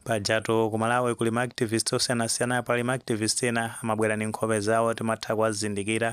Pajatu ku Malawi kuli ma activist osiyanasiyana pali ma activist ena amabwera ndi nkhope zawo timatha kuwazindikira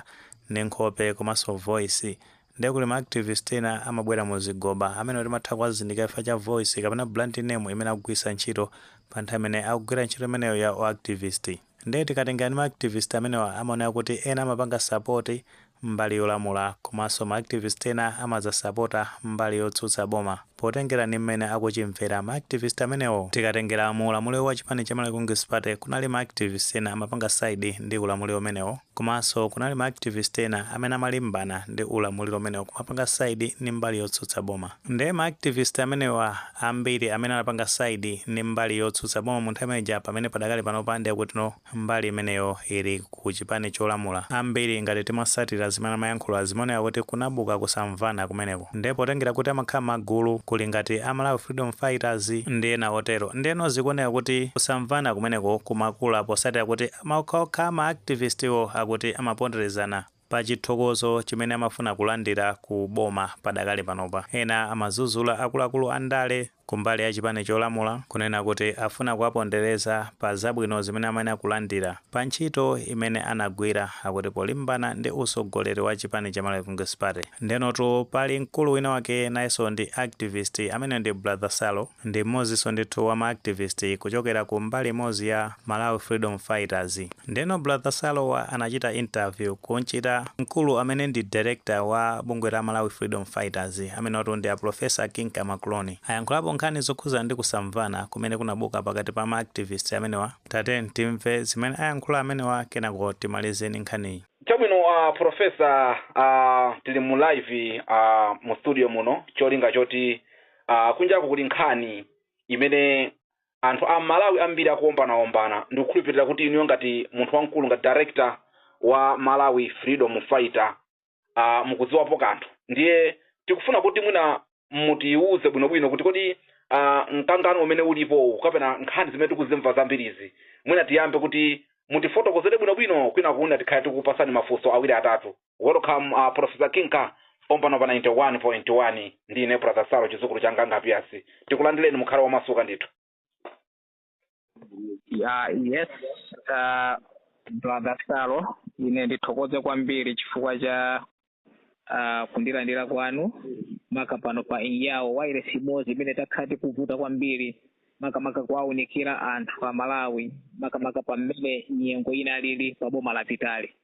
ndi nkhope komanso voice nde kuli ma activist ena amabwera mu zigoba amenewo timatha kuwazindikira chifukwa cha voice kapena brand name imene akugwiritsa ntchito pa nthawi imene akugwira ntchito imeneyo ya u activist. Nde tikatengera ndi ma activist amenewa amaoneka kuti ena amapanga support mbali yolamula komanso ma activist ena amazasapota mbali yotsutsa boma potengera ndi mmene akuchimvera ma activist amenewo. Tikatengera mu ulamuliro wa chipani cha Malawi Congress Party kunali ma activist ena amapanga side ndi ulamuliro umenewo komanso kunali ma activist ena amene amalimbana ndi ulamuliro umenewo kumapanga side ndi mbali yotsutsa boma. Nde ma activist amenewa ambiri amene anapanga side ndi mbali yotsutsa boma mu nthawi imeneija pamene padakali panopa nde kuti no mbali imeneyo ili ku chipani cholamula ambiri ngati timasatira zimene amayankhula zimaoneka kuti kunabuka kusamvana kumeneko nde potengera kuti amakhala mmagulu kuli ngati a Malawi Freedom Fighters ndi ena otero ndeno zikuoneka kuti kusamvana kumeneko kumakula posatira kuti okhaokha ma activist wo akuti amaponderezana pa chithokozo chimene amafuna kulandira ku boma padakali panopa. Ena amazuzula akuluakulu a ndale kumbali ya chipani cholamula kunena kuti afuna kuwapondereza pa zabwino zimene amayenera kulandira pa ntchito imene anagwira akuti polimbana ndi usogoleri wa chipani cha Malawi Congress Party. Ndenotu pali mkulu wina wake nayeso ndi activist ameneyo ndi Brother Salo. Ndi mmodzinso ndithu wa ma activist kuchokera ku mbali imodzi ya Malawi Freedom Fighters. Ndeno brother Salowa anachita interview kumchita mkulu amene ndi director wa bungwe la Malawi Freedom Fighters amenewatu ndi a Professor Kinka Makuloni. Ayankhulapo nkhani zokhudza ndi kusamvana kumene kunabuka pakati pa ma activist amenewa. Tatiyeni timve zimene ayankhula amenewa kenako timalize ndi nkhaniyi. Chabwino a Professor, a tili mu live mu studio muno cholinga choti Aaa kunjaku kuli nkhani imene anthu a Malawi ambiri akuombanaombana ndikukhulupilira kuti inuyo ngati munthu wamkulu ngati director wa Malawi freedom fighter aah mukudziwapo kanthu ndiye tikufuna kuti mwina mutiuze bwinobwino kuti kodi aah mkangano umene ulipo kapena nkhani zimene tikuzimva zambirizi mwina tiyambe kuti mutifotokozere bwinobwino kwinaku mwina tikhale tikupatsani mafunso awiri atatu. welcome uh, professor kinka pompano pa 91.1 ndi ine brother salo chizukulu cha Nganga Piyasi tikulandireni mukhale wamasuka ndithu ya yes uh, brother salo ine ndithokoze kwambiri chifukwa cha uh, kundilandira kwanu maka pano pa inyawo wairesi imodzi imene takhala tikuvuta kwambiri makamaka kuwaunikira anthu a malawi makamaka pamene nyengo inalili pa boma lapitali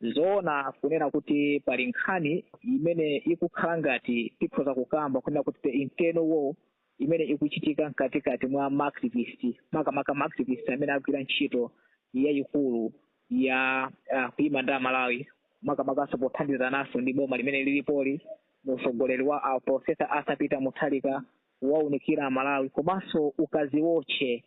N'zoona kunena kuti pali nkhani imene ikukhala ngati tikhoza kukamba kunena kuti the internal war imene ikuchitika mkatikati mwa maactivist, makamaka maactivist amene agwira ntchito yayikulu ya uh, kuima ndi Amalawi, makamakanso pothandizananso ndi boma limene lilipoli mu utsogoleri wa a Professor Arthur Peter Mutharika kuwaunikira Amalawi komanso ukaziotche.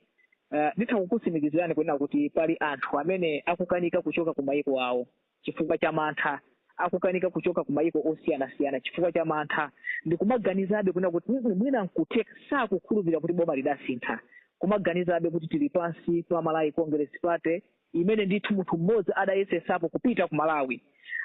Uh, nditha kukutsimikizirani kunena kuti pali anthu amene akukanika kuchoka ku mayiko awo chifukwa cha mantha, akukanika kuchoka ku mayiko osiyanasiyana chifukwa cha mantha ndikumaganizabe kunena kuti "Mm, mwina nkutheka sakukhulupirira kuti boma lidasintha kumaganizabe kuti tili pansi pa Malawi Congress Party imene ndithu munthu mmodzi adayesetsapo kupita ku Malawi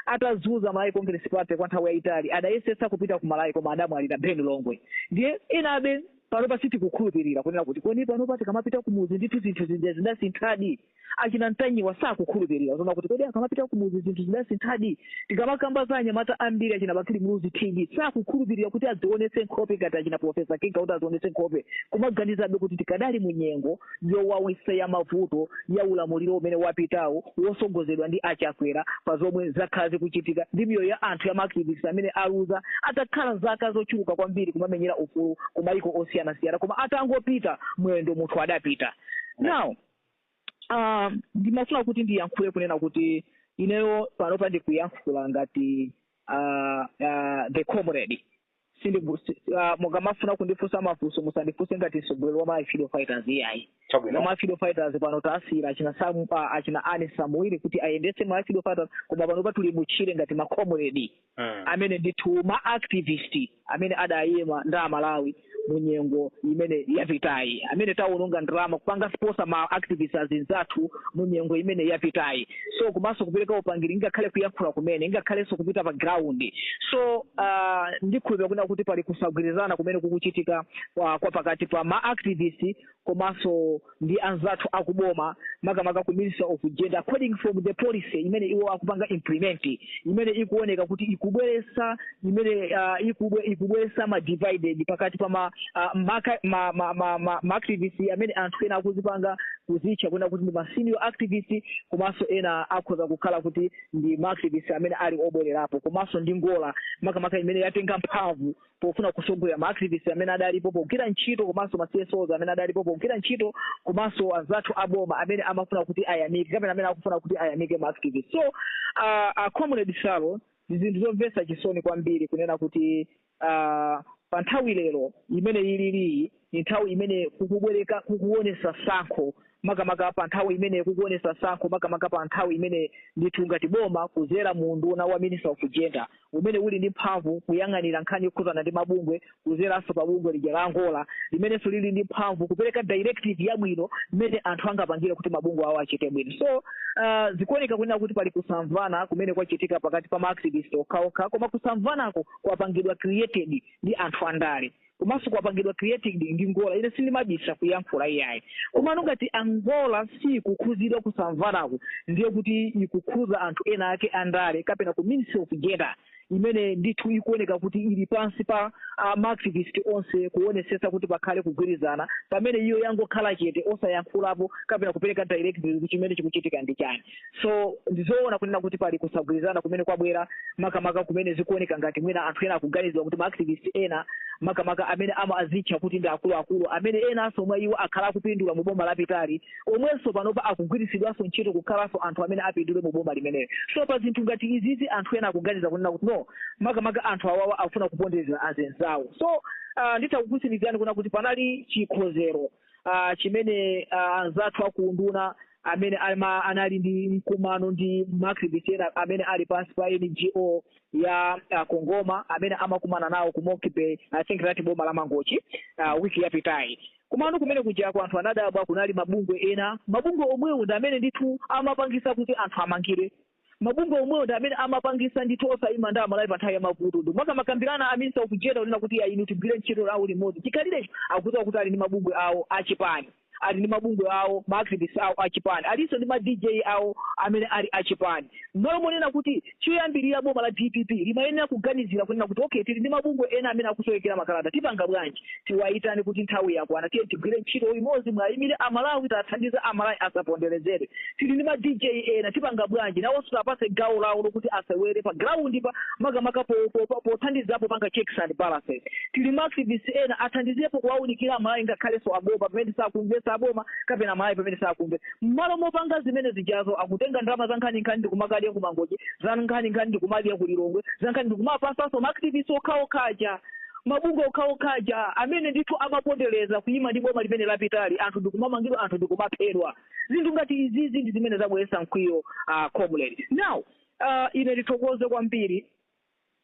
atazuza Malawi Congress Party kwa nthawi yayitali adayesetsa kupita ku Malawi koma adamwalira Ben Longwe ndiye enabe panopa sitikukhulupirira kunena kuti kodi panopa tikamapita kumuzi ndithu zinthu zija zidasinthadi achina Ntanyiwa sakukhulupirira zona kuti kodi akamapita kumuzi zinthu zidasinthadi tikamakamba za anyamata ambiri achina bakili muluzi tv sakukhulupirira kuti adzionetse nkhope ngati achina profesa kinga kuti adzionetse nkhope kumaganizabe kuti tikadali mu nyengo yowawitsa ya mavuto ya ulamuliro umene wapitawo wosogozedwa ndi a Chakwera pa zomwe zakhala zikuchitika ndi miyoyo ya anthu ya maactivist amene aluza atakhala zaka zochuluka kwambiri kumamenyera ufulu ku mayiko osiyanasiyana koma atangopita mwendo munthu adapita now Ah, ndimafuna kuti ndiyankhule kunena kuti ineyo panopa ndikuyankhula ngati ah, ah, the comrade sindibu si, uh, mukamafuna kundifunsa mafunso musandifunse ngati mtsogoleri wa malawi freedom fighters iyayi chabwino wa malawi freedom fighters pano tasiyira achina samu pa achina ani samuel kuti ayendetse malawi freedom fighters koma panopa tuli mutchire ngati macomrade Mm. amene ndithu ma activist amene adayima ndi amalawi mu nyengo imene yapitayi amene tawononga ndalama kupanga sponsor ma activist azinzathu mu nyengo imene yapitayi so komanso kupereka upangiri ngakhale kuyankhula kumene ngakhalenso kupita pa ground so uh, ndikhulupira kuna kuti pali kusagwirizana kumene kukuchitika uh, kwa pakati pa ma activist komanso ndi anzathu akuboma makamaka ku ministry of gender according from the policy imene iwo akupanga implement imene ikuoneka kuti ikubweresa imene uh, ikubwe ikubwesa ma divided pakati pa ma uh, maka, ma, ma, ma, ma, ma activist amene anthu ena akuzipanga kuzitcha kunena kuti ndi ma senior activist komanso ena akhoza kukhala kuti ndi ma activist amene ali obwererapo komanso ndi ngola makamaka imene yatenga mphamvu pofuna kusogolera ma activist amene adalipo pogwira ntchito komanso ma CSOs amene adalipo pogwira ntchito komanso anzathu aboma amene amafuna kuti ayamike kapena amene akufuna kuti ayamike ma activist so uh, uh, comrade Salo Ndi zinthu zomvesa chisoni kwambiri kunena kuti uh, pa nthawi lero imene tiliyi ndi nthawi imene kukubwereka kukuonesa sankho makamaka pa nthawi imene kukuonesa sankho makamaka pa nthawi imene ndithu ngati boma kuzera mu unduna wa minister of gender umene uli ndi mphamvu kuyang'anira nkhani zokhuzana ndi mabungwe kuzeranso pa bungwe lija la a NGORA limenenso lili ndi mphamvu kupereka directive yabwino imene anthu angapangire kuti mabungwe awo achite bwino so uh, zikuoneka kunena kuti pali kusamvana kumene kwachitika pakati pa maactivist okhaokha koma kusamvanako kwapangidwa created ndi anthu andale komanso kwapangidwa created ndi NGORA ine sindimabisa kuyankhula iyayi komano ngati a NGORA siikukhuzidwa kusamvanako ndiye kuti ikukhuza anthu ena ake andale kapena ku ministry of gender imene ndithu ikuoneka kuti ili pansi pa maactivist onse kuonesetsa kuti pakhale kugwirizana pamene iyo yangokhala chete osayankhulapo kapena kupereka directive chimene chikuchitika ndi chani so ndizoona kunena kuti pali kusagwirizana kumene kwabwera makamaka kumene zikuoneka ngati mwina anthu ena akuganizira kuti maactivist ena makamaka amene amazitcha kuti ndi akuluakulu amene enanso mwa iwo akhala akupindula mu boma lapitali omwenso panopa akugwiritsidwanso ntchito kukhalanso anthu amene apindule mu boma limeneli so pa zinthu ngati izizi anthu ena akuganiza kunena kuti no makamaka anthu awawa akufuna kupondereza azinzawo so uh, nditha kukutsimikizirani kuna kuti panali chikonzero uh, chimene uh, anzathu a ku unduna amene ama, anali ndi mkumano ndi maactivist ena amene ali pansi pa ngo ya uh, CONGOMA amene amakumana nawo ku monkey bay i think that boma la mangochi uh, wiki yapitayi Komano kumene kujako anthu anadabwa kunali mabungwe ena. Mabungwe omwewo ndi amene ndithu amapangisa kuti anthu amangidwe. Mabungwe omwewo ndi amene amapangisa ndithu osayima ndi a Malawi pa nthawi ya mavuto. Ndipo akamakambirana a Minister of Gender kunena kuti iyayi inu tigwire ntchito yawo limodzi. Chikhalirecho akudziwa kuti ali ndi mabungwe awo a chipani. Ali ndi mabungwe awo, ma activists awo a chipani. Alinso ndi ma DJ awo amene ali a chipani. M'malo monena kuti. Choyambirira boma la dpp limayenera kuganizira kunena kuti okay tili ndi mabungwe ena amene akusowekera makalata tipanga bwanji tiwayitane kuti nthawi yakwana tiyeni tigwire ntchito limodzi muayimire amalawi tiwathandize amalawi asaponderezedwe. Tili ndi ma dj ena tipanga bwanji nawonso tiwapatse gawo lawo lokuti asewere pa ground pa makamaka po- po- po- pothandiza popanga checks and balances. Tili ma activists ena athandizepo kuwaunikira amalawi ngakhalenso aboma pamene sakumvetsa aboma kapena amalawi pamene sakumve. mmalo mopanga zimene zijazo akutenga ndalama zankhaninkhani ndikumakadya ku mangochi zankhaninkhani ndikumadya ku lilongwe za nkhani ndikumapasanso ma activist okhaokhaja mabungwe okhaokhaja amene ndithu amapondereza kuyima ndi boma limene lapitali anthu ndikumamangidwa anthu ndikumaphedwa zinthu ngati izizi ndi zimene zabweretsa mkwiyo uh, comrade now uh, ine ndithokoze kwambiri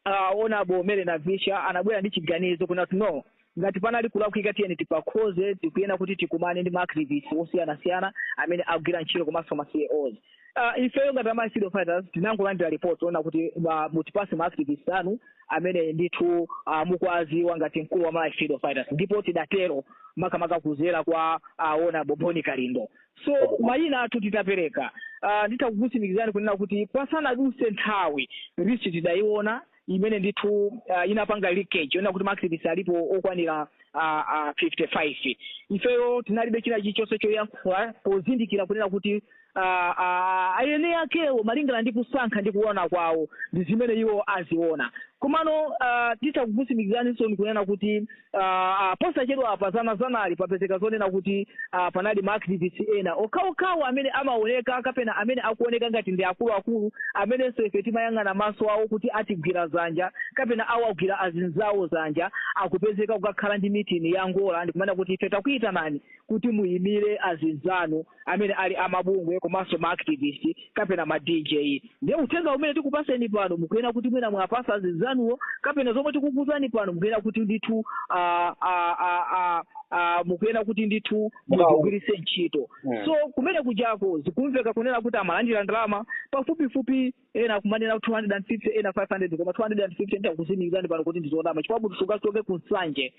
A Honourable Mary Navicha anabwera ndi chiganizo kunena kuti no, ngati panali kulakwika tiyeni tipakhoze, tikuyenera kuti tikumane ndi ma activists osiyanasiyana amene akugwira ntchito komanso ma CSOs. A ifeyo ngati a ma Freedom Fighters tinangolandira report lonena kuti ma mutipatse ma activists anu amene ndithu a mukuwadziwa ngati mkulu wa ma Freedom Fighters ndipo tidatero makamaka kuzera kwa a Honourable Bon Kalindo. so mayina athu titapereka uh, nditha kukutsimikizani kunena kuti pasanadutse nthawi list tidayiona imene ndithu uh, inapanga leakage yonena kuti maactivist alipo okwanira uh, uh, 55 ifeyo tinalibe china chilichonse choyankhula pozindikira kunena kuti uh, uh, ayine akewo malingana ndi kusankha ndi kuona kwawo ndi zimene iwo aziona komano uh, titha kukutsimikizaniso kunena kuti Uh, uh, posachedwapa dzanadzanali papezeka zonena kuti uh, panali maactivist ena okhaokhawo amene amaoneka kapena amene akuoneka ngati ndi akuluakulu amenenso ife timayang'ana maso awo kuti atigwira dzanja kapena awagwira azinzawo dzanja akupezeka kukakhala ndi mitini yangoyawo ndikumanena kuti ife takuitanani kuti muyimire azinzanu amene ali amabungwe komanso ma activist kapena ma dj ndiye uthenga umene tikupatseni pano mukuyenera kuti mwina muwapatsa azinzanuwo kapena zomwe tikukuuzani pano mukuyenera kuti ndithu ah, ah, ah, ah, ah, mukuyenera kuti ndithu muzigwiritse ntchito Mm. so kumene kujako zikumveka kunena kuti amalandira ndalama pafupifupi ena akumanena 250 ena 500 koma 250 nditha kukutsimikizani pano kuti ndi zonama chifukwa kuti sungachoke ku Nsanje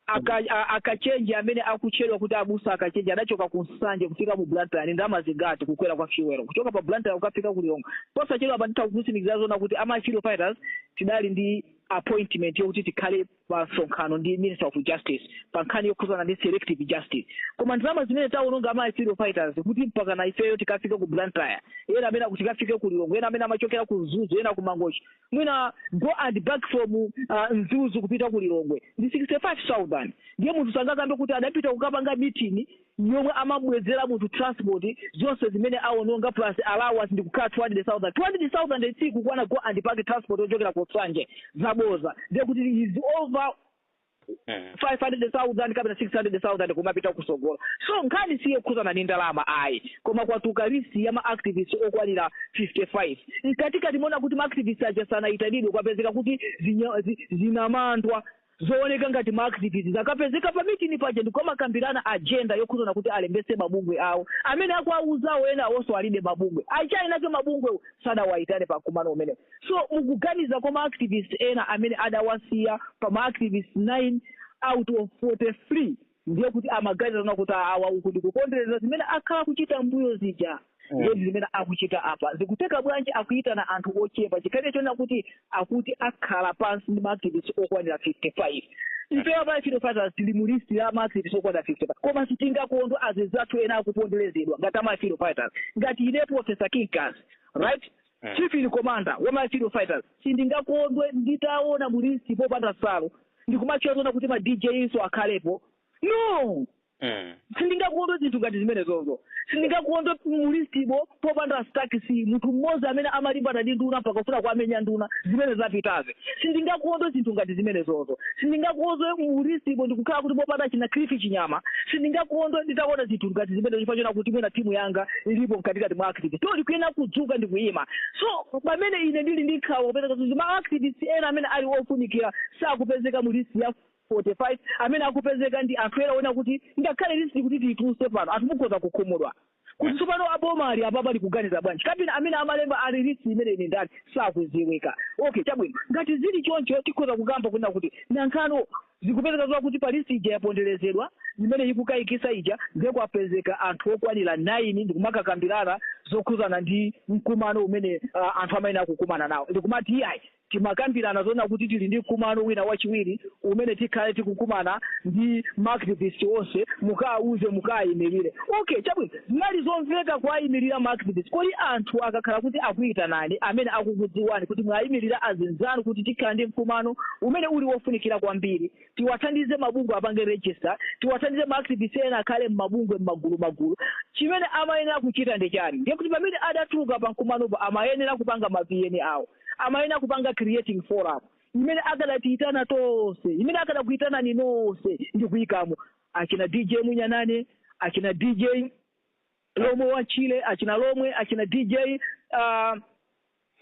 Aka, a, akachenje amene akutchedwa kuti abusa akachenje adachoka ku Nsanje kufika mu Blantyre ndi ndalama zingati kukwera kwa fuel kuchoka pa Blantyre kukafika ku Lilongwe? Posachedwapa nditha kukutsimikizira zonena kuti a ma Freedom Fighters tidali ndi appointment yokuti tikhale pa msonkhano ndi Minister of Justice pa nkhani yokhuzana ndi selective justice. Koma ndalama zimene tawononga a ma Freedom Fighters kuti mpakana ifeyo tikafike ku Blantyre, ena amene kuti tikafike ku Lilongwe, ena amene amachokera ku Mzuzu, ena ku Mangochi, mwina go and back from uh, Mzuzu kupita ku Lilongwe ndi 65000 ndiye munthu sangakambe kuti adapita kukapanga meeting yomwe amambwezera munthu transport zonse zimene awononga plus allowance ndikukhala 200000 200000 sikukwana go and back transport yochokera ku Nsanje zaboza ndiye kuti is over Mm. 500,000 kapena 600,000 kumapita kutsogolo so nkhani siyokhudzana ndi ndalama ayi koma kwatuluka list ya maactivist okwanira 55 mkatikati monena kuti maactivist aja sanayitanidwe kwapezeka kuti zinya- zi- zinamandwa zooneka ngati maactivist zakapezeka pa mitini paja ndikumakambirana agenda yokhuzana kuti alembetse mabungwe awo amene akuwauzawo ena awonso alibe mabungwe achina ake mabungwe sadawayitane pa mkumano umenewo so mukuganiza kwa ma activist ena amene adawasiya pa ma activist 9 out of 43 ndiye kuti amaganiza zona kuti awa uku ndikupondereza zimene akhala akuchita mbuyo zija ndiye ndi zimene akuchita apa zikuteka bwanji akuyitana anthu ochepa chikhalire chonena kuti akuti akhala pansi ndi ma activist okwanira 55 ifeyo pa freedom fighters tili mu list ya ma activist okwanira 55 koma sitingakondwe azizathu ena akuponderezedwa ngati ama freedom fighters ngati ine professor kinkas right Chief in commander wa ma freedom fighters sindingakondwe nditaona mulisti popanda Salo ndikumatchula zoona kuti ma dj nso akhalepo no sindingakondwe zinthu ngati zimenezozo sindingakondwe mulistimo popanda stakisi munthu mmodzi amene amalimbana ndi nduna mpaka kufuna kuamenya nduna zimene zapitazi sindingakondwe zinthu ngati zimenezozo sindingakondwe mulistimo ndikukhala kuti popanda china Cliff Chinyama sindingakondwe nditaona zinthu ngati zimenezo chifukwa choona kuti mwina timu yanga ilipo mkatikati mwa activist to ndikuyenera kudzuka ndikuyima so pamene ine ndili ndi nkhawa kupezeka kuti ma activist ena amene ali ofunikira sakupezeka mu list ya 45 amene akupezeka ndi anthu ena ona kuti ngakhale list kuti tiyituluse pano anthu mukhoza kukhumudwa kuti tsopano boma ili apapa likuganiza bwanji kapena amene amalemba list imeneyi ndani sakuziwika okay chabwino ngati zili choncho tikhoza kukamba kunena kuti nanga zikupezeka zakuti pa list ija yaponderezedwa imene ikukayikisa ija ndiye kwapezeka anthu okwanira 9 ndikumakakambirana zokhuzana ndi mkumano umene uh, anthu amayenera kukumana nawo ndikumati iyayi Timakambirana zoona kuti tili ndi mkumano wina wachiwiri umene tikhale tikukumana ndi ma activist onse, mukawauze, mukaimirire. Okay, chabwino. Zinali zomveka kuwaimirira ma activist. Kodi anthu akakhala kuti akuitanani, amene akukudziwani kuti mwaimirira azinzanu kuti tikhala ndi mkumano umene uli wofunikira kwambiri, tiwathandize mabungwe apange register, tiwathandize ma activist ena akhale mmabungwe mmagulumagulu, chimene amayenera kuchita ndi chani? Ndiye kuti pamene adatuluka pamkumanopo amayenera kupanga ma VN awo. amayenera kupanga creating forum imene akadatiyitana tonse imene akadakuyitanani nonse ndi kuyikamo achina dj munyanane achina dj lomwe wa chile achina lomwe achina dj uh,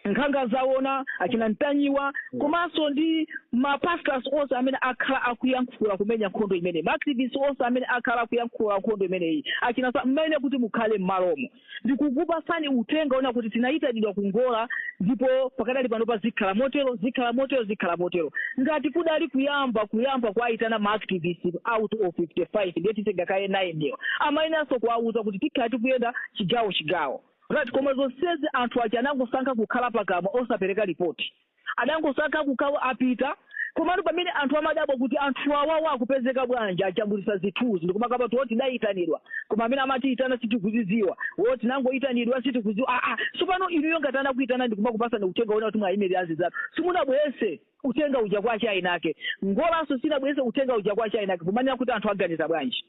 nkhanga zaona achina ntanyiwa komanso ndi mapastors onse amene akhala akuyankhula kumenya nkhondo imeneyi maactivist onse amene akhala akuyankhula nkhondo imeneyi achina sa- mmene kuti mukhale m'malomo ndikukupatsani uthenga ona kuti tinayitanidwa ku ngola ndipo pakadali panopa zikhala motero zikhala motero zikhala motero ngati kudali kuyamba kuyamba kuwayitana ma activist out of 55 ndiye titenga kaye 9 ndiyo amayeneranso kuwawuza kuti tikhala tikuyenda chigawo chigawo right koma zonsezi anthu aja anangosankha kukhala pakamwa osapereka lipoti adangosankha kukhawo apita komatu pamene anthu amadabwa kuti anthu awawa akupezeka bwanji ajambulitsa zithuzi ndikumakamba kuti wo tidayitanidwa koma amene amatiyitana sitikuzidziwa wo tinangoyitanidwa sitikudziwa aa tsopano inuyo ngati anakuyitana ndikumakupasani uthenga wina kuti mwayimirira azinzanu simunabwese uthenga uja kwa chayinake NGORA-nso sinabwese uthenga uja kwa chayinake kumanena kuti anthu aganiza bwanji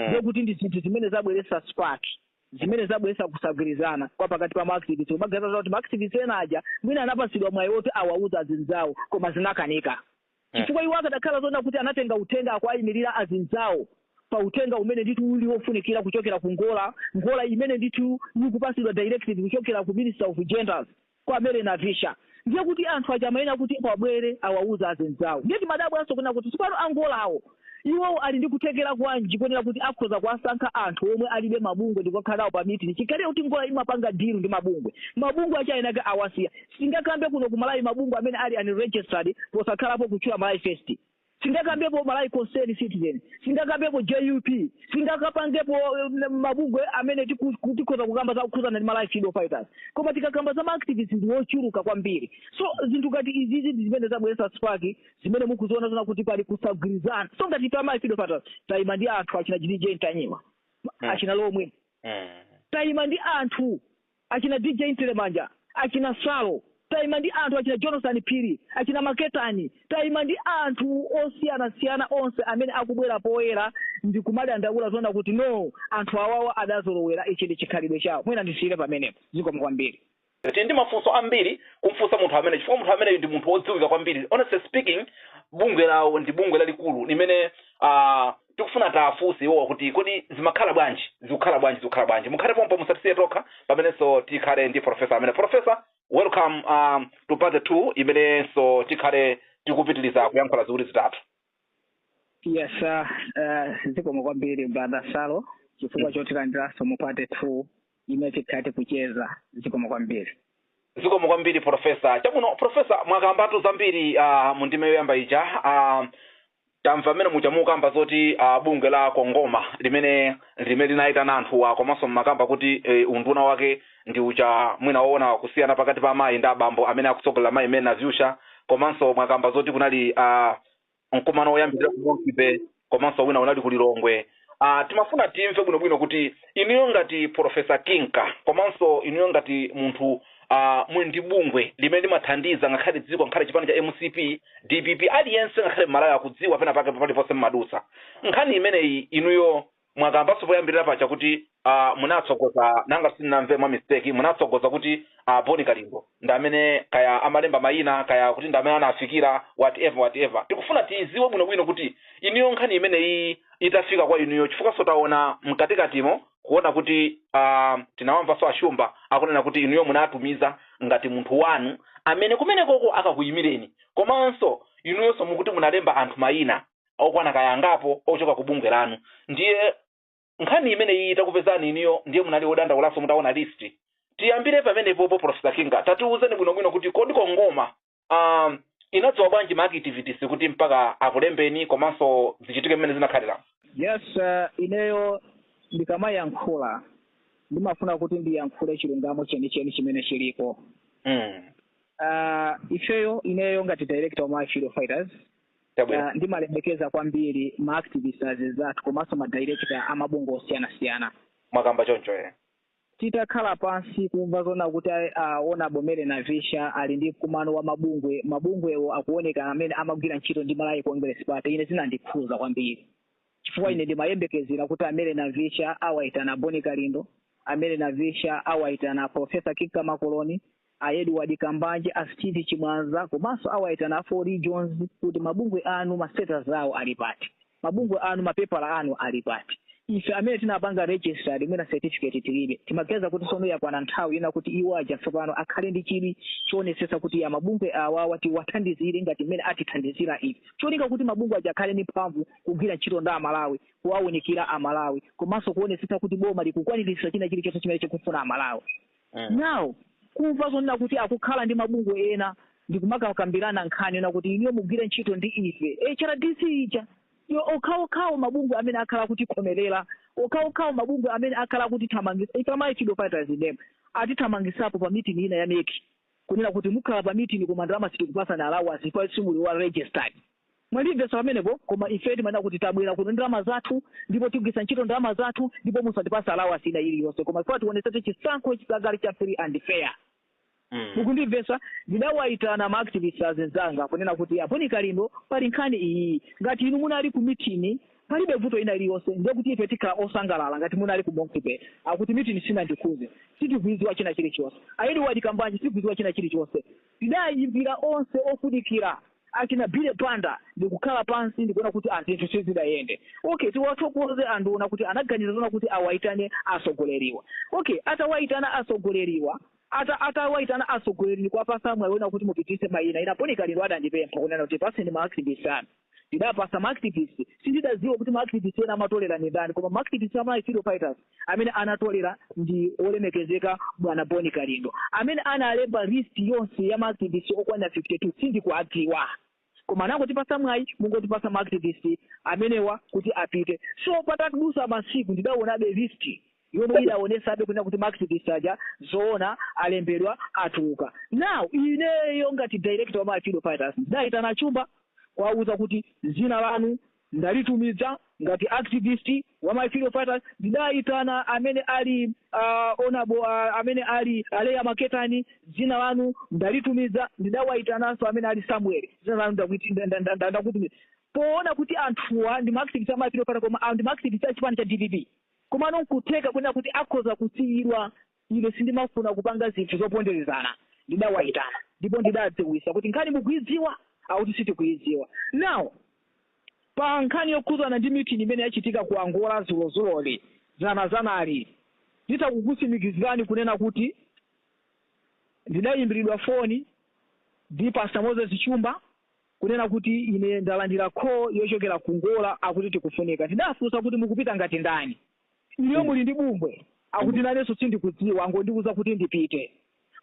ndiye kuti ndi zinthu zimene zabweretsa spark zimene zabweretsa kusagwirizana kwa pakati pa ma activists kumaganiza kuti ma activists ena aja mwina anapatsidwa mwayi woti awauze azinzawo koma zinakanika chifukwa iwo akadakhala zoona kuti anatenga uthenga akuwayimirira azinzawo pa uthenga umene ndithu uli wofunikira kuchokera ku NGORA NGORA imene ndithu ikupatsidwa directive kuchokera ku minister of genders kwa Mary Navicha ndiye kuti anthu aja amayenera kuti abwere awauze azinzawo ndiye timadabwanso kunena kuti tsopano a NGORA-wo iwowo ali ndi kuthekera kwanji konena kuti akhoza kuwasankha anthu omwe alibe mabungwe ndikukakhala nawo pa meeting chikhalire kuti NGORA imapanga deal ndi mabungwe mabungwe acha enake awasiya sitingakambe kuno ku Malawi mabungwe amene ali unregistered posakhalapo kutchula Malawi First Singakambepo Malawi Concern Citizen, singakambepo JUP, singakapangepo mabungwe amene tiku tikhoza kukamba zokhudzana ndi Malawi Freedom Fighters. Koma tikakamba za ma activists ndi ochuluka kwambiri. So zinthu ngati izizi ndi zimene zabweretsa spark zimene mukuziona zonena kuti pali kusagwirizana. So ngati ife a Malawi Freedom Fighters tayima ndi anthu achina J DJ Ntanyiwa, achina Lomwe, tayima ndi anthu achina DJ Ntelemanja, achina Salo, taima ndi anthu achina Jonathan Phiri, achina Maketani, taima ndi anthu osiyanasiyana onse amene akubwera poyera ndikumadandaula zonena kuti no anthu awawa adazolowera ichi ndi chikhalidwe chawo. Mwina ndisiyire pamenepo. Zikomo kwambiri. Tili ndi mafunso ambiri kumfunsa munthu ameneyu chifukwa munthu ameneyu ndi munthu wodziwika kwambiri. Honestly speaking, bungwe lawo ndi bungwe lalikulu limene ah, tikufuna tiwafunse iwowa kuti kodi zimakhala bwanji, zikukhala bwanji, zikukhala bwanji. Mukhale pompo musatisiye tokha pamenenso tikhale ndi professor amene. Professor, welcome um, to part 2 imenenso tikhale tikupitiliza kuyankhula ziwiri zitatu. Yes, sir. Uh, zikomo kwambiri brother Salo chifukwa chotilandiranso mu part 2 imene tikhale tikucheza zikomo kwambiri zikomo kwambiri profesa chabwino profesa mwakambatu zambiri uh, mu ndime yoyamba ija uh, tamva mmene muja mukamba zoti uh, bungwe la CONGOMA limene limene linayitana anthuwa komanso mmakamba kuti eh, unduna wake ndi uja mwina woona kusiyana pakati pa amayi ndi abambo amene akutsogolera mayi Mary Navicha komanso mwakamba zoti kunali uh, Mkumano woyambirira ku Monkey Bay komanso wina unali ku Lilongwe. A, timafuna timve bwinobwino kuti inuyo ngati Polofesa Kinka komanso inuyo ngati munthu a, muli ndi bungwe limene limathandiza ngakhale dziko ngakhale chipani cha MCP, DPP, aliyense ngakhale Mmalawi akudziwa penapake paliponse mmadutsa. Nkhani imeneyi inuyo Mwakambaso poyambirira paja kuti uh, munatsogoza ngati sindinamve mwa mistake munatsogoza kuti uh, Boni Kalindo ndi amene kaya amalemba mayina kaya kuti ndi amene anafikira whatever whatever. Tikufuna tiiziwe bwinobwino kuti inuyo nkhani imeneyi itafika kwa inuyo chifukwaso taona mkatikatimo kuona kuti uh, tinawamvaso a Shumba akunena kuti inuyo munatumiza ngati munthu wanu amene kumenekoko akakuyimireni komanso inuyoso mukuti munalemba anthu mayina okwana kaya angapo ochoka ku bungwe lanu ndiye nkhani imene iyi itakupezani inuyo ndiye munali odandaulaso mutaona list tiyambire pamenepopo Professor Kinka tatiuzeni bwinobwino kuti kodi CONGOMA um, inadziwa bwanji ma activists kuti mpaka akulembeni komanso zichitike mmene zinakhalira yes uh, ineyo ndikamayankhula ndimafuna kuti ndiyankhule chilungamo chenicheni chimene chilipo mm. uh, ifeyo ineyo ngati director wa Malawi Freedom Fighters Ndimalemekeza kwambiri ma activist azizathu komanso ma director a mabungwe osiyanasiyana mwakamba choncho eh titakhala pansi kumva zona kuti a Honourable Mary Navicha ali ndi mkumano wa mabungwe mabungwewo akuoneka amene amagwira ntchito ndi Malawi Congress Party ine zinandikhuza kwambiri chifukwa ine ndimayembekezera kuti a Mary Navicha awaitana Boni Kalindo a Mary Navicha awaitana Professor Kinka Makoloni A Edward Kambanje, a Steve Chimwaza komanso awaitana a Four Regions kuti mabungwe anu ma status awo ali pati, mabungwe anu mapepala anu ali pati. Ife amene tinapanga register mwina certificate tilibe, timaganiza kuti tsono yakwana nthawi yona kuti iwo aja tsopano akhale ndi chidwi choonetsetsa kuti ya mabungwe awawa tiwathandizire ngati mmene atithandizira ife, cholinga kuti mabungwe aja akhale ndi mphamvu kugwira ntchito ndi Amalawi, kuwaunikira Amalawi komanso kuonetsetsa kuti boma likukwaniritsa china chilichonse chimene chikufuna Amalawi. mm. now kumva zonena kuti akukhala ndi mabungwe ena ndikumakakambirana nkhani yona kuti inuyo mugwire ntchito ndi ife HRDC ijayo okhaokhawo mabungwe amene akhala akutikhomerera okhaokhawo mabungwe amene akhala akutithamangisa ife Malawi Freedom Fighters name atithamangisapo pa meeting ina ya MEC kunena kuti mukhala pa meeting koma ndalama sitikupasani allowance chifukwa simuli wa registered Mwandivesa pamenepo koma ife timanena kuti tabwela kuno ndi ndalama zathu ndipo tigwilisa ntchito ndalama zathu ndipo musatipase allowance ina iliyonse koma chifukwa tionesetse chisankho chikakhale cha free and fair mukundivesa ndidawaitana ma activist azinzanga kunena kuti a Boni Kalindo pali nkhani iyiyi ngati inu munali ku meeting palibe vuto ina iliyonse ndiye kuti ife tikhala osangalala ngati munali ku Monkey Bay akuti meeting sinandikhuze sitikuiziwa china chilichonse a Edward Kambanje sitikuiziwa china chilichonse Ndidaayimbira onse ofunikira, achina Billy Banda, ndikukhala pansi ndikuona kuti a zinthu sizidayende. Okay, tiwathokoze anduna kuti anaganiza zoona kuti awaitane atsogoleriwa. Okay, atawaitana atsogoleriwa, ata atawaitana atsogoleri ndikuwapatsa mwayi woona kuti mupititse maina, ine a Boni Kalindo adandipempha kunena kuti tipatseni ma activist anu. Ndidapasa ma activists, sindidadziwa kuti ma activists ena amatolera ndi ndani koma ma activists a Malawi Freedom Fighters amene anatolera ndi olemekezeka bwana Boni Kalindo. Amene analemba list yonse ya ma activists okwana 52 sindikuwadziwa. Koma anangotipasa mwayi mungotipasa ma activists amenewa kuti apite. So patadusa masiku ndidaonabe list yomwe idaonesabe kunena kuti ma activist aja zoona alembedwa atuluka now ineyo ngati director wa ma freedom fighters ndidayitana Chumba kuwauza kuti zina lanu ndalitumiza ngati activist wa malawi freedom fighters ndidayitana amene ali uh, honourable uh, amene ali aleya maketani dzina lanu ndalitumiza ndidawayitananso amene ali samuel dzina lanu ndakuti- nda- nda- nda- nda- ndakutumiza poona kuti anthuwa ndi maactivist a malawi freedom fighters koma ah, ndi maactivist a chipani cha dpp Komano n'kutheka kunena kuti akhoza kusiyidwa. Ine sindimafuna kupanga zinthu zoponderezana. Ndidawaitana ndipo ndidadziwisa kuti nkhani mukuidziwa? Akuti sitikuidziwa. Now, pa nkhani yokhudzana ndi meeting imene yachitika ku Angola dzulozuloli, dzanadzanali, nditha kukutsimikizirani kunena kuti ndidaimbilidwa foni ndi Pastor Moses Shumba, kunena kuti ine ndalandira call yochokera ku Angola akuti tikufunika ndidafunsa kuti mukupita ngati ndani inuyo muli ndi bungwe akuti nanenso sindikudziwa angondiuza kuti ndipite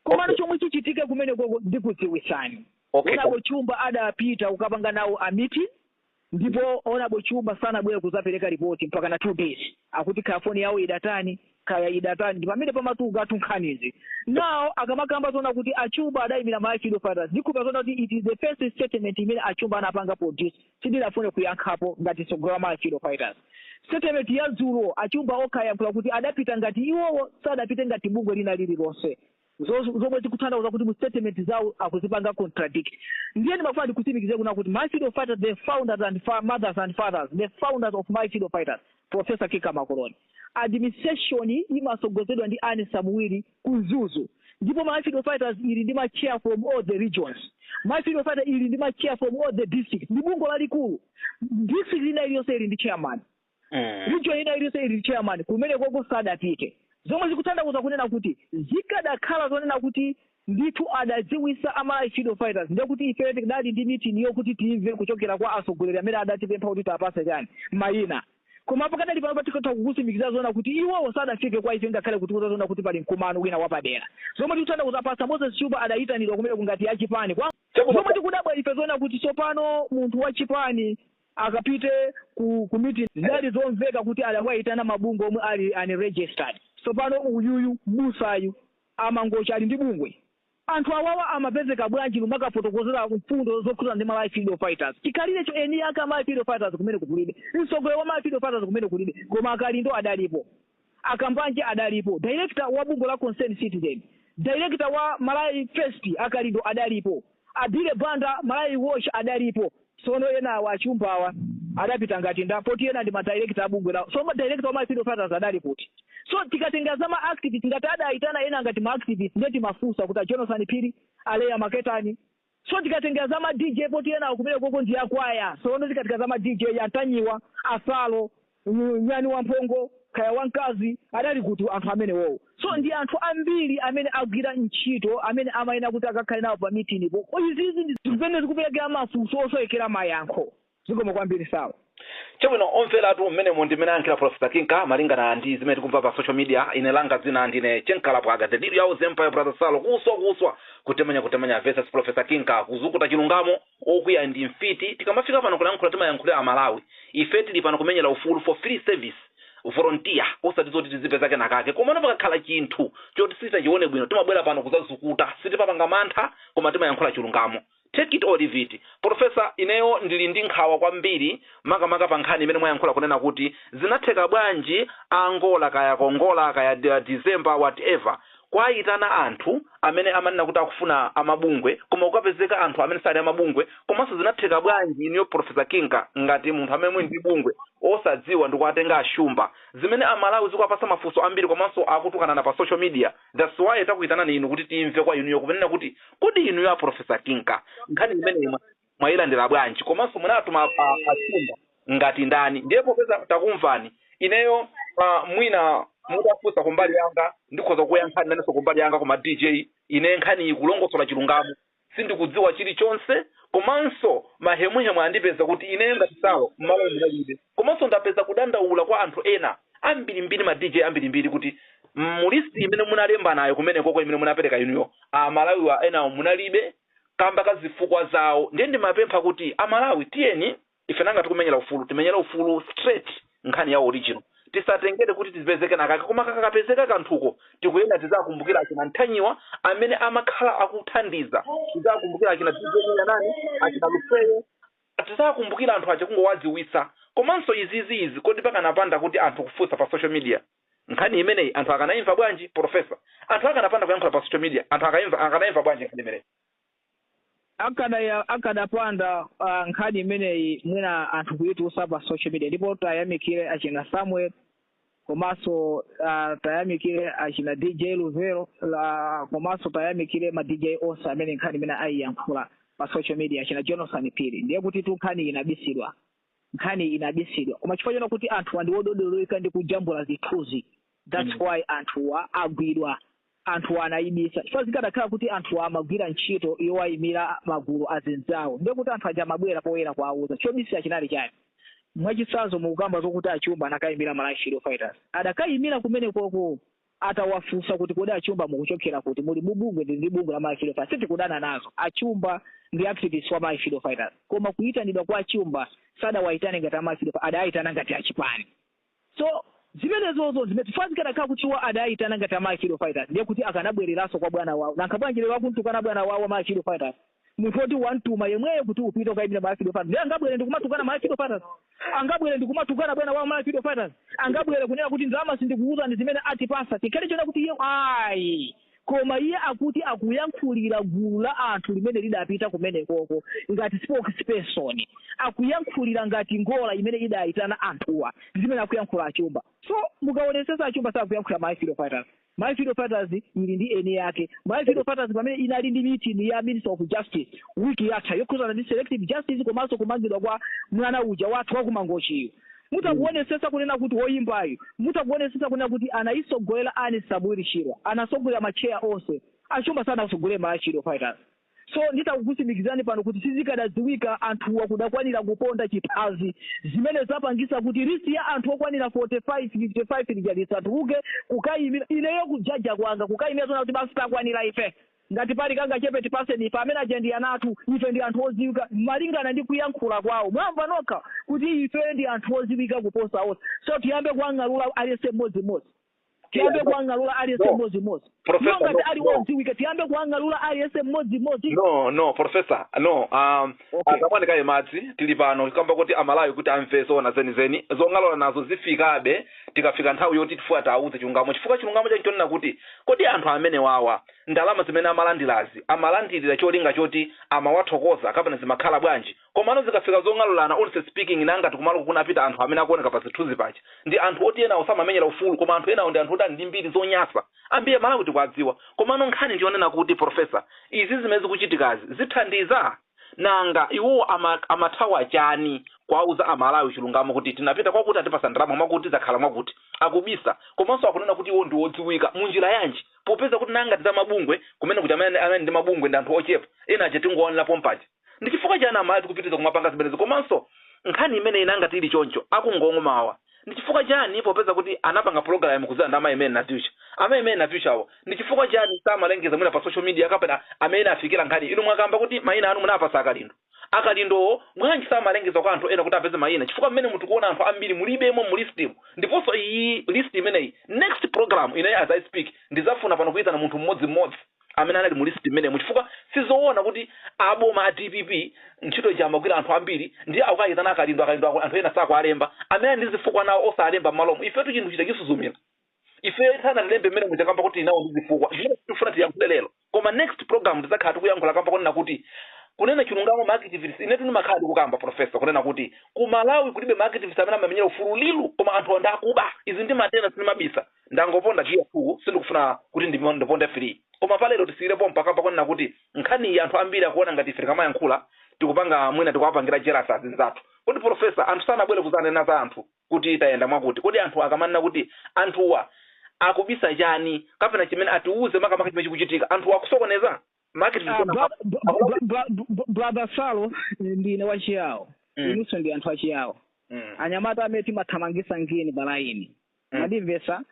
komano Okay. chomwe chichitike kumenekoko ndikudziwisani Okay. honourable Shumba adapita kukapanga nawo a meeting ndipo honourable Shumba sanabwere kuzapereka ripoti mpaka na two days akuti kaya foni yawo idatani kaya idatani ndi pamene pamatuluka nkhanizi now akamakamba zonena kuti a Shumba adayimira malawi freedom fighters ndikhulupira zonena kuti it is the first statement imene a Shumba anapanga produce sindidafune kuyankhapo ngati mtsogoleri wa malawi freedom fighters statement ya dzulo a Shumba okha ayankhula kuti adapita ngati iwowo sadapite ngati bungwe lina lililonse Nzo zomwe zikutanthauza kuti mu statement zawo akuzipanga contradict. Ndiye ndimafuna ndikutsimikizire kunena kuti Malawi freedom fighters the founders and fa mothers and fathers the founders of Malawi freedom fighters Professor Kika Makoloni administration imasogozedwa ndi Anne Samuel ku Mzuzu ndipo Malawi freedom fighters ili ndi ma chair from all the regions Malawi freedom fighter ili ndi ma chair from all the districts ndi bungwe lalikulu district ina iliyonse ili ndi chairman Mm. region ina iliyonse ili ndi chairman kumenekoko sadapite zomwe zikutanthauza kunena kuti zikadakhala zonena kuti ndithu adadziwisa a malawi freedom fighters ndiye kuti ifeyo tikadali ndi mitini yokuti timve kuchokera kwa atsogoleri amene adatipempha kuti tapase chani mayina koma pakadali pano pano tikatha kukusimikizira zonena kuti iwowo sadafike kwa ife ngakhale kutiuza zonena kuti pali mkumano wina wapadera zomwe tikutanthauza pastor moses Shumba adayitanidwa kumeneko ngati wachipani zomwe tikudabwa ife zonena kuti tsopano munthu wachipani akapite ku ku meeting zidali zomveka kuti adawaitana mabungwe omwe ali unregistered tsopano uyuyu m'busayu wa mangochi ali ndi bungwe? anthu awawa amapezeka bwanji numakafotokozera mfundo zokhudzana ndi malawi freedom fighters chikhalirecho eni ake a malawi freedom fighters kumeneko kulibe mtsogoleri wa malawi freedom fighters kumeneko kulibe koma akalindo adalipo A Kambanje adalipo, director wa bungwe la Concerned Citizen, director wa Malawi First a Kalindo adalipo, a Billy Banda Malawi Watch adalipo. Sono enawa achumbawa adapita ngati nda poti ena ndi ma director a bungwe la. So director wa Malawi Freedom Fighters adali kuti. So tikatenga za ma activists ngati adayitana ena ngati ma activists ndiye timafunsa kuti a Jonathan Phiri, a Leah Maketani, So tikatenga za ma DJ poti enawo kumenekoko ndi akwaya sono tikatenga za ma DJ a Ntanyiwa, a Salo, nyani wamphongo kaya wamkazi adali kuti anthu amenewowo so ndi anthu ambiri amene agwira ntchito amene amayenera kuti akakhale nawo pa meeting-po izizi ndi zimene zikupereka mafunso osowekera mayankho Zikomo kwambiri Salo. Chabwino omveratu, mmenemo ndi mmene ayankhulira Professor Kinka malingana ndi zimene tikumva pa social media. Ine langa dzina ndine Che Nkalapwaga, the leader of the empire brother Salo, kuswa kuswa, kutemanya kutemanya vs Professor Kinka, kuzukuta chilungamo, okwiya ndi mfiti. Tikamafika pano kulankhula timayankhulira Amalawi. Ife tili pano kumenyera ufulu for free service, volunteer, osati zoti tizipeza kenakake. Komano pakakhala chinthu choti sitachione bwino, timabwera pano kudzazukuta. Sitimapanga mantha, koma timayankhula chilungamo. Take it or leave it, Professor ineyo ndili ndi nkhawa kwambiri makamaka pa nkhani imene mwayankhula kunena kuti zinatheka bwanji a Angola kaya a Kongola kaya December whatever kuayitana anthu amene amanena kuti akufuna a mabungwe koma kukapezeka anthu amene sali a mabungwe komanso zinatheka bwanji inuyo Professor Kinka ngati munthu amene muli ndi bungwe osadziwa ndikuatenga a Shumba zimene a Malawi zikuwapatsa mafunso ambiri komanso akutukanana pa social media That's why takuitanani inu kuti timve kwa inuyo kunena kuti kodi inuyo a Professor Kinka nkhani imeneyi mwa- mwailandira bwanji komanso munatuma a- a- achumba ngati ndani ndiye popeza takumvani ineyo uh, mwina mutafunsa kumbali yanga ndikhoza kuyankhani nanenso kumbali yanga koma dj ine nkhani ikulongosola chilungamo Sindikudziwa chilichonse komanso mahemuhemu andipeza kuti ineyo ngati Salo mmalomu ndinalibe komanso ndapeza kudandaula kwa anthu ena ambirimbiri ma DJ ambirimbiri kuti mu list imene munalembanayo kumenekoko imene munapereka inuyo a Malawiwa enawo munalibe kamba ka zifukwa zawo ndiye ndimapempha kuti a Malawi tiyeni Ife nanga tikumenyera ufulu timenyere ufulu straight nkhani ya original tisatengere kuti tizipeze kenakake koma kakapezeka kanthuko tikuyenera tizakumbukire achina Ntanyiwa amene amakhala akuthandiza tizakumbukire achina DJ mwina nani achina Lufeyo tizakumbukire anthu aja kungowadziwitsa komanso izizi izi kodi pakanapanda kuti anthu kufunsa pa social media nkhani imeneyi anthu akanaimva bwanji Professor anthu akanapanda kuyankhula pa social media anthu akaimva akanaimva bwanji nkhani imeneyi akada akadapanda uh, nkhani imeneyi mwina anthu kuyitulutsa pa social media ndipo tayamikire achina samuel komanso uh, tayamikire achina dj luvero, komanso tayamikire ma dj onse amene nkhani imene ayiyankhula pa social media achina jonathan phiri ndiye kuti tu nkhani inabisidwa nkhani inabisidwa koma chifukwa chona kuti anthu andiwododoloka ndi kujambula zithunzi that's mm. why anthuwa agwidwa anthuwa anayibisa chifukwa zikadakhala kuti anthuwa amagwira ntchito yowayimira magulu azinzawo ndiye kuti anthu aja amabwera poyera kuwawuza chobisira chinali chani mwachitsanzo mukukamba zokuti achumba anakayimira malawi freedom fighters adakayimira kumene koko atawafunsa kuti kodi achumba mukuchokera kuti muli mubungwe ndi ndi bungwe la malawi freedom fighters sitikudana nazo achumba ndi activist wa malawi freedom fighters koma kuyitanidwa kwa achumba sadawayitane ngati a malawi freedom adayitana ngati achipani So zimenezozo nzimene chifukwa zikadakhala kuti iwo adayitana ngati a Malawi Freedom Fighters ndiye kuti akanabwereranso kwa bwana wawo nanga bwanji lero akumtukwana bwana wawo wa Malawi Freedom Fighters munthu woti wamtuma yemweyo kuti upite ukayimire Malawi Freedom Fighters ndiye angabwere ndikumatukwana Malawi Freedom Fighters angabwere ndikumatukwana bwana wawo Malawi Freedom Fighters angabwere kunena kuti ndalama sindikuwuzani zimene atipasa chikhale chona kuti iye ayi Koma iye akuti akuyankhulira gulu la anthu limene lidapita kumenekoko ngati spokesperson. Akuyankhulira ngati ngola imene idaitana anthuwa. Ndi zimene akuyankhula a Chumba. So, mukaonetsetsa a Chumba sakuyankhulira Malawi Freedom Fighters. Malawi Freedom Fighters ili ndi eni ake. Malawi Freedom Fighters pamene inali ndi meeting ya Minister of Justice week yatha yokhudzana ndi selective justice komanso kumangidwa kwa mwana uja wathu wa ku Mangochi yu. mutha kuonesesa kunena kuti woyimbayu mutha kuonesesa kunena kuti anayisogolera ndani Samuel Chirwa anasogolera ma chair onse a chumba sanawasogolere malawi freedom fighters so nditha kukutsimikizirani pano kuti sizikadadziwika anthuwa akadakwanira kuponda chiphazi zimene zapangisa kuti list ya anthu okwanira 45 55 lija lisatuluke kukayimira ineyo kujaja kwanga kukayimira zona kuti basi takwanira ife Ngati pali kangachepe tipaseni ife amene aja ndi ana athu, ife ndi anthu oziwika malingana ndi kuyankhula kwawo mwamva nokha kuti ifeyo ndi anthu oziwika kuposa onse so tiyambe kuwang'alula aliyense mmodzi mmodzi tiyambe Yeah, no, kuwang'alula aliyense no, mmodzi mmodzi iwo Professor, no, ngati ali no, odziwika tiyambe kuwang'alula aliyense mmodzi mmodzi no, no, Professor, no. Um, okay takamwani kaye madzi tili pano kamba kuti amalawi kuti amve zoona zenizeni zong'alula nazo zifikabe Tikafika nthawi yoti tifuna tiawuze chilungamo chifukwa chilungamo chake nchonena kuti kodi anthu amenewawa ndalama zimene amalandilazi amalandilira cholinga choti amawathokoza kapena zimakhala bwanji? Komano zikafika zong'alulana honestly speaking nanga ngati kumaloko kunapita anthu amene akuoneka pa zithunzi paja ndi anthu oti enawo samamenyera ufulu koma anthu enawo ndi anthu oti ali ndi mbiri zonyasa ambiri amalawi tikuadziwa komano nkhani nchonena kuti professor izi zimene zikuchitikazi zithandiza? nanga iwo amathawa chani kuwauza amalawi chilungamo kuti tinapita kwakuti atipasa ndalama mwakuti zakhala mwakuti akubisa komanso akunena kuti iwo ndiwodziwika munjira yanji popeza kuti nanga ati zamabungwe kumene kuja amene ndi mabungwe ndi anthu ochepa ena aja tingoonera pompaja ndi chifukwa chani amalawi tikupitiriza kumapanga zimenezi komanso nkhani imeneyi nanga tili choncho akungong'oma awa Ndi chifukwa chani popeza kuti anapanga program kudzera ndi amayi mary navicha, amayi mary navichawo ndi chifukwa chani samalengeza mwina pa social media kapena amene inawafikira nkhani inu mwakamba kuti mayina anu munawapasa akalindo, akalindowo bwanji samalengeza kwa anthu ena kuti apeze mayina chifukwa mmenemu tikuwona anthu ambiri mulibemo mu list mu ndiponso iyi list imeneyi next program ineyo as i speak ndizafuna pano kuyitana munthu mmodzi mmodzi amene anali mu list mmenemo chifukwa sizowona kuti a boma a dpp ntchito ija amagwira anthu ambiri ndiye akukayitana akalindo anthu ena sakuwalemba amene ali ndi zifukwa nawo osalemba mmalomo ifetu chinthu chikuchisuzumira ife asanatilembe mmene muja kamba kuti tinawo ndi zifukwa zimene tifuna tiyankhule lero koma next program tizakhala tikuyankhula kamba kunena kuti kunena chilungamo ma activists inetu ndimakhala ndikukamba profesa kunena kuti ku malawi kulibe ma activists amene amamenyera ufulu real koma anthu anda akuba izi ndi matenda sinimabisa Ndangoponda giya 2 sindikufuna kuti ndiponde 3 koma pa lero tisiyire pompa kamba kunena kuti nkhaniyi anthu ambiri akuona ngati ife tikamayankhula tikupanga mwina tikuwapangira jealous azinzathu. Kodi Professor anthu sanabwere kuzanena za anthu kuti tayenda mwakuti kodi anthu akamanena kuti anthuwa akubisa chani kapena chimene atiuze makamaka chimene chikuchitika anthuwa akusokoneza? Make Ah, brother salo ndine wa chiyawo Mm. inunso ndi anthu a chiyawo Mm. anyamata amene timathamangisa ngini pa line Mm. mwandimvetsa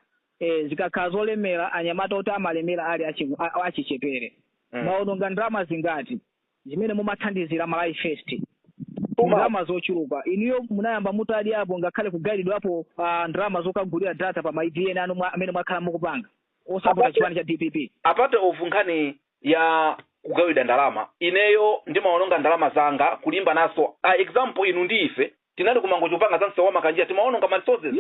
zikakhala zolemera anyamata oti amalemera ali achichepere Mm. mwaononga ndalama zingati zimene mumathandizira malawi first ndalama zochuluka inuyo munayamba mutadyapo ngakhale kugayiridwapo ndalama zokagulira data pa mademo amene mwakhala mukupanga osapota chipani cha dpp apart from nkhani ya kugawidwa ndalama ineyo ndimaononga ndalama zanga kulimba nazo example inu ndi ife tinali kumangochi kupanga za msewu wa makanjira timaononga ma resources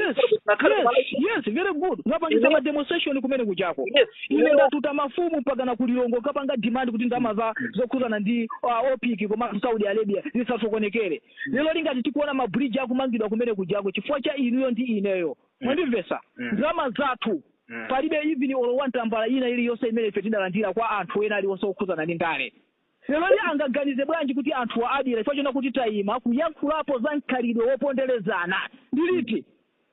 yes very good mwapangisa ma demonstration kumene kujako ine ndatuta mafumu mpakana kulilongwe kapanga demand kuti ndalama za zokhuzana ndi opec komanso saudi arabia zisasokonekere leroli ngati tikuona mabridge akumangidwa kumene kujako chifukwa cha inuyo ndi ineyo Mwandimvetsa? Mm. Ndalama zathu Mm. palibe even olo one tambala ina iliyonse imene ife tidalandira kwa anthu ena aliwonse okhudzana ndi ndale. Leroli angaganize bwanji kuti anthuwa adyera chifukwa chonena kuti tayima kuyankhulapo za mkhalidwe woponderezana ndi liti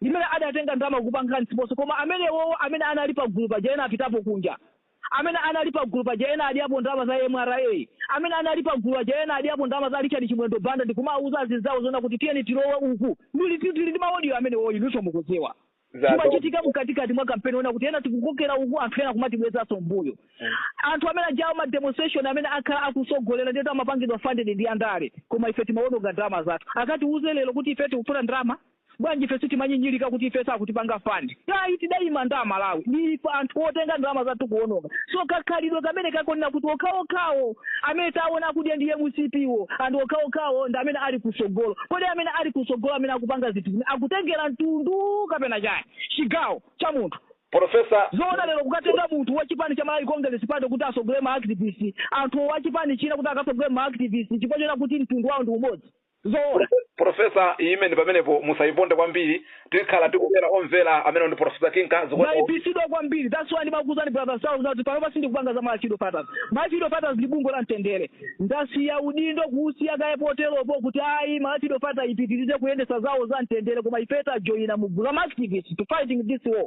limene adatenga ndalama kupanga sponsor koma amenewowo amene anali pagulu paja ena apitapo kunja Amene anali pagulu paja ena adyapo ndalama za mra. Amene anali pagulu paja ena adyapo ndalama za Richard Chimwendo Banda ndikumawuza azinzawo zoona kuti tiyeni tilowe uku. Ndili ndi ndili ndi ma audio amenewo inunso mukudziwa. Zimachitika mkatikati mwa kampeni onena kuti ena tikukokera uku anthu ena kumatibwezanso m'mbuyo. Anthu amene ajawo ma demonstration amene akhala akutsogolera ndiyetu amapangidwa funded ndi andale koma ife timawononga ndalama zathu. Akatiwuze lero kuti ifeyo tikufuna ndalama? Bwanji ife sitimanyinyilika kuti ife sakutipanga fund ayi tidaima ndi Amalawi ndi ife anthu otenga ndalama zathu kuononga so kakhalidwe kameneka konena kuti okhaokhawo amene taona akudya ndi mcp wo and okhaokhawo ndi amene ali kusogolo kodi amene ali kusogolo amene akupanga zinthu akutengela ntundu kapena chani chigawo cha munthu Professor zoona lero kukatenga munthu wa chipani cha Malawi Congress party kuti asogole ma activist munthu wa chipani china kuti akasogole ma activist chifukwa chonena kuti ntundu wao ndi umodzi? Zoona, Professor imeneyi pamenepo musayiponde kwambiri, tikhala tikubwera omvera amenewo ndi Professor Kinka zikuoneka kuti. Mwayipisidwa kwambiri that's why ndimakuuzani brother Salo kuti panopa sindikupanga za Malachi Edo Fathers. Malachi Edo Fathers ndi bungwe la mtendere. Ndasiya udindo kuwusiya kaye poteropo kuti ayi Malachi Edo Fathers ipitirize kuyendetsa zawo za mtendere koma ifeyo tajoina mu gulu la ma activists to fighting this war.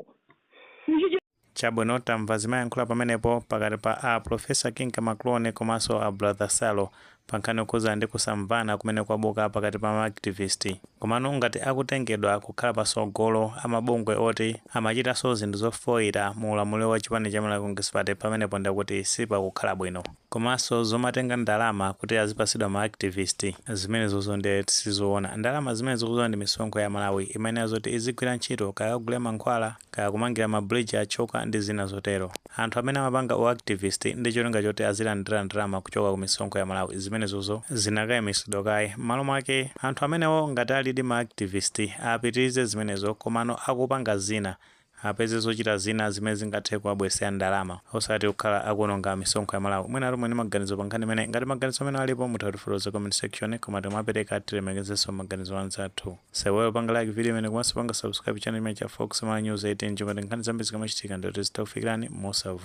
Ichi chi. Chabwino tamva zimayankhulidwa pamenepo pakati pa a Prof Kinka Maklone komanso a Brother Salo pankhani yokhudzana ndi kusamvana kumene kwabuka pakati pa ma activist. Komano ngati akutengedwa kukhala pasogolo amabungwe oti amachitanso zinthu zofoira mu ulamuliro wa chipani cha Malawi Congress Party pamenepo ndekuti sipakukhala bwino. Komanso zomatenga ndalama kuti azipasidwa ma activist zimenezozo nde sizoona. Ndalama zimenezo ukudziwa ndi misonkho ya Amalawi imayenera zoti izigwira ntchito kaya akagule mankhwala, kaya kumangira ma bridge achoka ndi zina zotero. Anthu amene amapanga u activist ndi cholinga choti azilandira ndalama kuchoka ku misonkho ya Amalawi zimenezozo zinakayimisidwa kaye. Mmalo mwake anthu amenewo ngati alidi ma activist apitirize zimenezo komano akupanga zina apeze zochita zina zimene zingathe kuwabweresera ndalama osati kukhala akuononga misonkho ya Malawi. Mwinatu muli ndi maganizo pa nkhani imeneyi? Ngati maganizo amenewo alipo mutha kutifotokoza comment section koma tikamapeleka tilemekezenso maganizo a anzathu. Musaiwale kupanga like video imeneyi komanso kupanga subscribe channel chimenechi cha Fox Malawi News 18 chonchi ngati nkhani zambiri zikamachitika ndiye kuti zizikufikirani mosavuta.